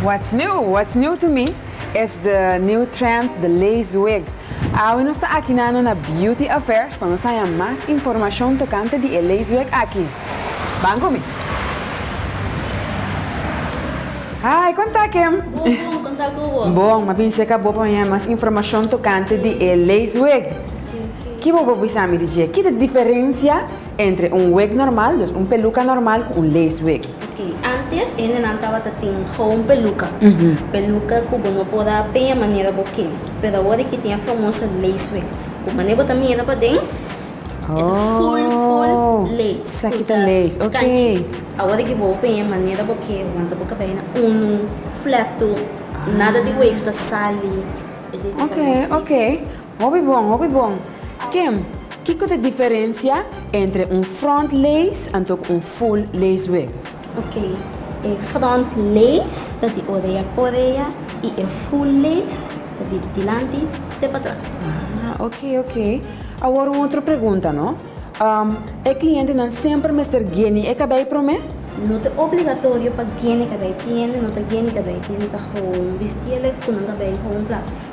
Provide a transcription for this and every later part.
What's new? What's new to me es the new trend the lace wig. Awe nos ta aki nano na Beauty Affairs pa nos haya mas informacion tocante di e lace wig aki. Ban cu mi. Hi, con ta Kim? Bon, bon, con ta cu bo? Bon, ma bin seca bo pa mi haya mas informacion tocante di e lace wig. Ki bo por bisa mi di dje? Ki ta diferensia entre un wig normal, dus un peluka normal ku un lace wig? Ok, antes hendenan tabata tin gewoon peluka, peluka ku bo no por a peña manera bo ke. Pero awor aki tin e famoso lace wig, ku mané bo ta mira paden e ta full full lace. Sa ki ta lace, ok. Awor aki bo peña manera bo ke, bo manta bo kabei na unu, fletu, nada di wave ta sali. Esei ta kòrta nos lace wig. Ok, ok. Hopi bon, hopi bon. Kim, kiko ta e diferensia entre un front lace anto ku un full lace wig? Ok, e front lace ta di orea ku orea i e full lace ta di dilanti te patras. Ah, ok, ok. Awor un otro pregunta no. E klientenan semper mester geni e kabei promé? No ta obligatorio pa geni kabei. Kliente no ta geni kabei, kliente ta hou un bistiele ku nan kabei hou un plaka.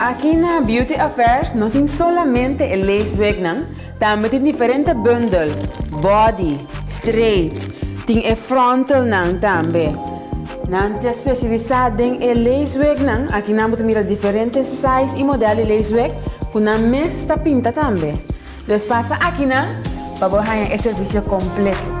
Aki na Beauty Affairs no tin solamente e lace wignan, tambe tin diferente bundel, body, straight, tin e frontalnan tambe. Nan ta spesialisá den e leesweeknan. Aki nan bo ta mira diferente size i modèl di leesweek ku nan mes ta pinta tambe. Los pasa aki nan pa bo haña e servisio kompleto.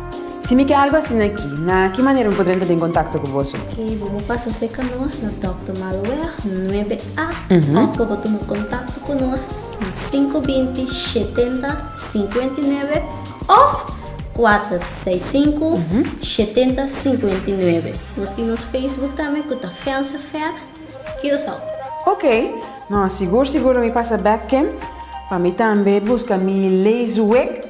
Si mi ke algu asina aki, na ki manera mi por drenta den kontakto ku boso? Oke, bo por pasa serka nos na Dòk de Malweg nuebe A òf pa bo tuma kontakto ku nos na sinku binti shetenta sinkuenta i nuebe òf kuater seis sinku shetenta sinkuenta i nuebe. Nos tin nos Facebook tambe ku ta Vense Fe Curaçao. Oke, nò sigur sigur lo mi pasa bèk ken pa mi tambe buska mi lees wek.